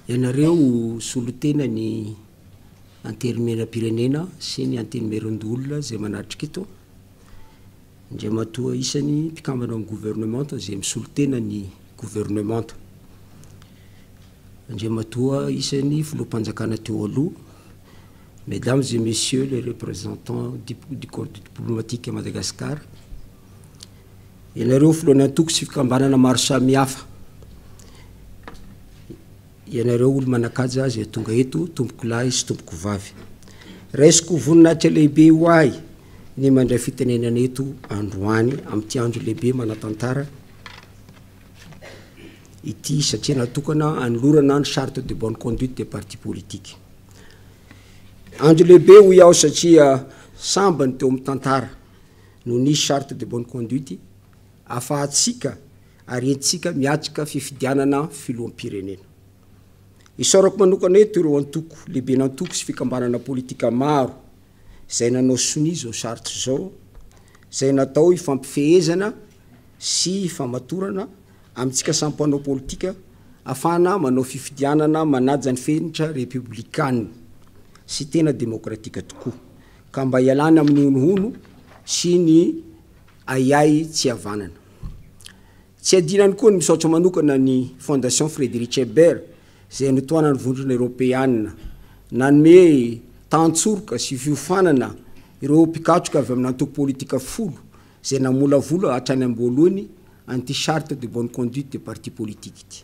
Ianareo solontena ny Antenimierampirenena sy ny Antenimierandoholona izay manatrika eto, Andriamatoa isany mpikambana amin'ny Governemanta izay misolontena ny Governemanta, Andriamatoa isany Filoham-panjakana teo aloha, Mesdames et Messieurs les représentants du Corps diplomatique à Madagascar, ianareo filohan'ny antoko sy fikambanana maro samihafa, ianareo olo-manan-kaja izay tonga eto, tompoko lahy sy tompoko vavy. Raisiko voninahitra lehibe ho ahy ny mandray fitenenana eto androany amin'ity andro lehibe manatantara ity satria natokana anolorana ny charte de bonne conduite des partis politiques. Andro lehibe hoy aho satria sambany teo amin'ny tantara no nisy charte de bonne conduite afahantsika ary entintsika miatrika fifidianana filoham-pirenena. Isaorako manokana eto ireo antoko, lehiben'antoko sy fikambanana politika maro izay nanao sonia izao sarotra izao, izay natao hifampifehezana sy hifamatorana amintsika samy mpanao politika afahana manao fifidianana manaja ny fenitra repoblikanina sy tena demokratika tokoa. Ka mba ialana amin'ny honohono sy ny ahiahy tsy havanana. Tsy adino ihany koa ny misaotra manokana ny Fondation Friedrich Ebert izay notohanan'ny Vondrona Eoropeana nanome tahan-tsoroka sy fiofanana ireo mpikatroka avy amina antoko politika folo izay namolavola hatrany am-boalohany an'ity Charte de bonne conduite des partis politiques ity.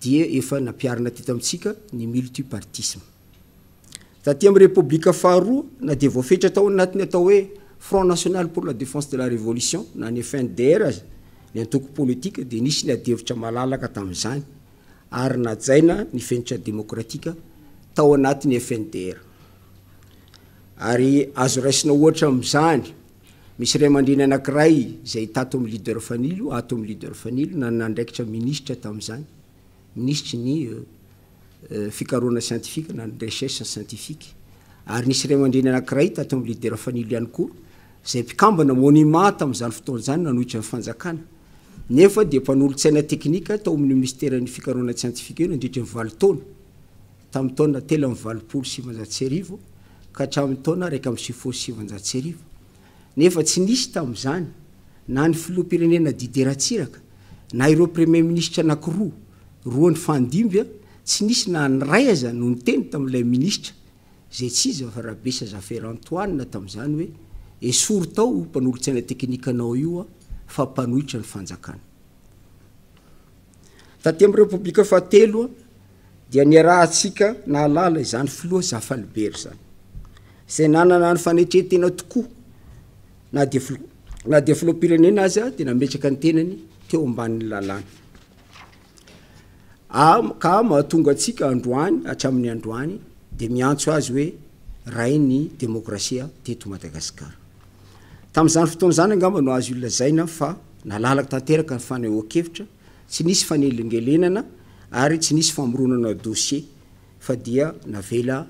dia efa nampiharina teto amintsika ny multipartisme. Taty amin'ny Repoblika faharoa na dia voafetra tao anatin'ny atao hoe Front National pour la Défense de la Révolution na ny FNDR aza ny antoko politika dia nisy ny adihevitra malalaka tamin'izany ary najaina ny fenitra demokratika tao anatin'ny FNDR. Ary azo raisina ohatra amin'izany Misy ray aman-dreny anankiray izay tato amin'ny Leader Fanilo, ato amin'ny Leader Fanilo, nanana andraikitra Minisitra tamin'izany, Minisitry ny Fikarohana Siantifika na ny Recherche Scientifique. Ary nisy ray aman-dreny anankiray tato amin'ny Leader Fanilo ihany koa, izay mpikambana Monima tamin'izany fotoana izany nanohitra ny Fanjakana, nefa dia mpanolotsaina teknika tao amin'ny Minisiteran'ny Fikarohana Tsiantifika eo nandritry ny valo taona. Tamin'ny taona telo amby valopolo sy sivinjato sy arivo ka hatramin'ny taona iraika amby sivifolo sy sivinjato sy arivo, nefa tsy nisy tamin'izany na ny filoham-pirenena Didier Ratsiraka na ireo praimieminisitra anankiroa roa nifandimby, tsy nisy na ny iray aza no niteny tamin'ilay minisitra izay tsy iza fa Rabesa Jaffer Antoine tamin'izany hoe esory tao io mpanolotsaina tekinikanao io fa mpanohitra ny fanjakana. Taty amin'ny Repoblika fahatelo dia niarahantsika nahalala izany Filoha Zafalibery izany, izay nanana ny fanetren-tena tokoa na dia Filoha na dia Filoham-pirenena aza dia nametraka ny tenany teo ambanin'ny lalàna. Am- ka mahatonga antsika androany hatramin'ny androany dia miantso azy hoe Rain'ny Demokrasia teto Madagasikara. Tamin'izany fotoana izany angamba no azo ilazaina fa nalalaka tanteraka ny fanehoan-kevitra, tsy nisy fanelingelenana ary tsy nisy famoronana dossier fa dia navela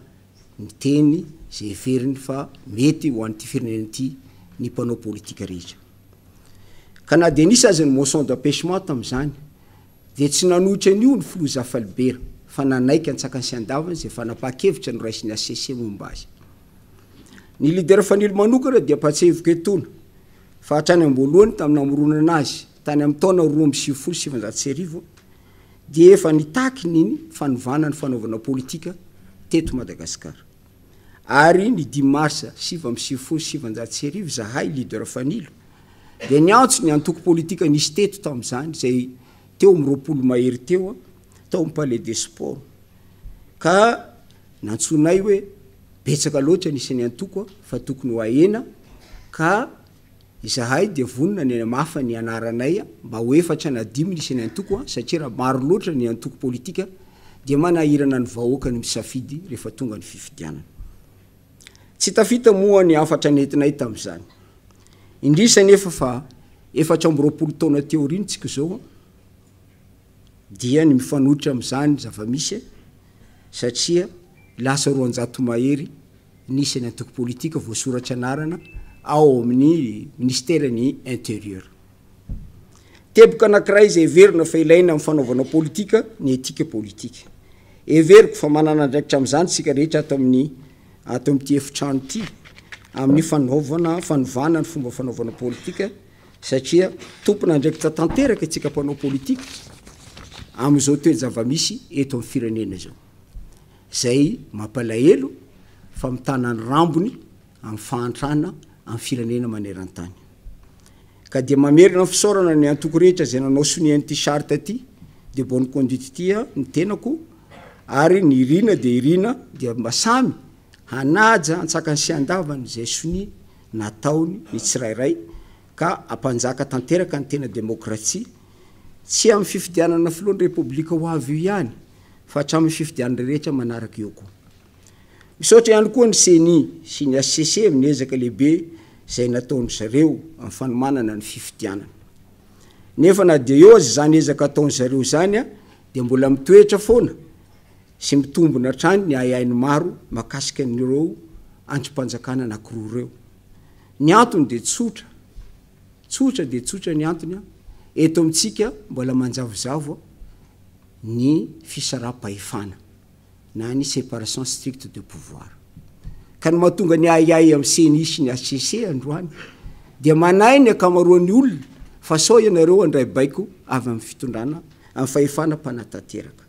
niteny izay heveriny fa mety ho an'ity firenena ity ny mpanao politika rehetra. Ka na dia nisy aza ny motion d'empêchement tamin'izany dia tsy nanohitra an'io ny filoha Zafalibera fa nanaiky an-tsakany sy an-davany izay fanapahan-kevitra noraisiny HCC momba azy. Ny Leader Fanilo manokana dia mpahatsiahivoka etoana fa hatrany am-boalohany tamin'ny namoronana azy tany amin'ny taona roa amby sivifolo sy sivinjato sy arivo dia efa nitaky ny fanovana ny fanaovana politika teto Madagasikara. Ary ny dimy marsa sivy amby sivifolo sy sivinjato sy arivo izahay, Leader Fanilo, dia niantso ny antoko politika nisy teto tamin'izany izay teo amin'ny roapolo mahery teo tao amin'ny Palais des Sports ka Nantsoinay hoe betsaka loatra ny isan'ny antoko fa tokony ho ahena ka izahay dia vonona ny hanamafa ny anaranay mba ho efatra na dimy ny isan'ny antoko satria raha maro loatra ny antoko politika dia manahirana ny vahoaka ny misafidy rehefa tonga ny fifidianana. Tsy tafita moa ny hafatra nentinay tamin'izany. Indrisy anefa fa efatra amby roapolo taona teo aoriantsika izao, dia ny mifanohitra amin'izany zava-misy satria lasa roanjato mahery ny isan'ny antoko politika voasoratra anarana ao amin'ny minisiteran'ny Intérieur. Teboka anankiray izay heverina fa ilaina amin'ny fanaovana politika ny etika politika. Heveriko fa manana andraikitra amin'izany isika rehetra ato amin'ny ato amin'ity efitrano ity amin'ny fanaovana fanovana ny fomba fanaovana politika satria tompon'andraikitra tanteraka isika mpanao politika amin'izao toe-javamisy eto amin'ny firenena izao, izay mampalahelo fa mitana ny rambony amin'ny fahantrana amin'ny firenena maneran-tany. Ka dia mamerina ny fisaorana ny antoko rehetra izay nanao sonia an'ity charte ity, de bonne conduite ity, ny tenako, ary ny irina dia irina, dia mba samy Hanaja antsakany sy andavany izay sonia nataony ny tsirairay ka hampanjaka tanteraka ny tena demokratsia, tsy amin'ny fifidianana filohan'ny Repoblika ho avy io ihany fa hatramin'ny fifidianana rehetra manaraka eo koa. Misaotra ihany koa ny Ceni sy ny hcc amin'ny ezaka lehibe izay nataondry zareo amin'ny fanomanana ny fifidianana. Nefa na dia eo aza izany ezaka ataondry zareo izany dia mbola mitoetra foana sy mitombona hatrany ny ahiahin'ny maro mahakasika an'ireo andrim-panjakana anankiroa ireo. Ny antony dia tsotra, tsotra dia tsotra ny antony an, eto amintsika mbola manjavozavo ny fisaraham-pahefana na ny séparation stricte de pouvoir. Ka ny mahatonga ny ahiahy amin'ny ceni sy ny hcc androany dia manahy ny ankamaroan'ny olona fa sao ianareo handray baiko avy amin'ny fitondrana, amin'ny fahefana mpanatanteraka.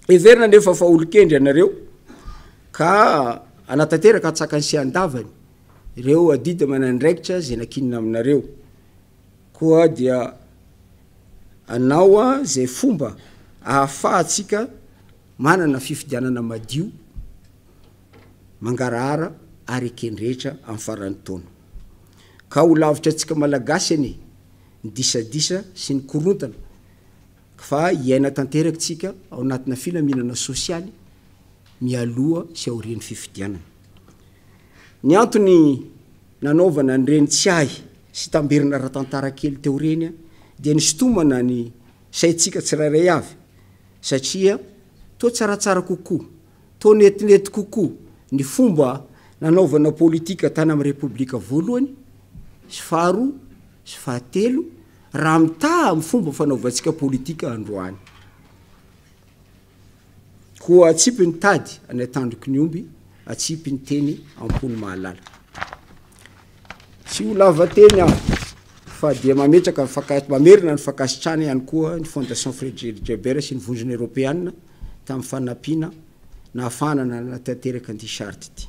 Heverina anefa fa olon-kendry ianareo ka hanatanteraka an-tsakany sy an-davany ireo adidy aman'andraikitra izay nakinina aminareo. Koa dia anao izay fomba ahafahantsika manana fifidianana madio, mangarahara ary eken-drehetra amin'ny faran'ny taona. Ka ho lavitra antsika Malagasy anie ny disadisa sy ny korontana. Fa hiaina tanteraka tsika ao anatina filaminana sosialy mialoha sy aorian'ny fifidianana. Ny antony nanaovana an'ireny tsiahy sy tamberina ara-tantara kely teo ireny dia ny sitomana ny saintsika tsirairay avy satria toa tsaratsara kokoa, toa netinety kokoa ny fomba nanaovana politika tany amin'ny Repoblika voalohany sy faharoa sy fahatelo, Raha mitaha amin'ny fomba fanaovantsika politika androany, koa atsipy ny tady any an-tandroky ny omby, atsipy ny teny am-pony mahalala. Tsy ho lava teny aho, fa dia mametraka ny fanka- mamerina ny fankasitrana ihany koa ny Fondation Frederick Jaber sy ny Vondrona Eropeana tamin'ny fanampiana nahafahana nanatanteraka an'ity charte ity.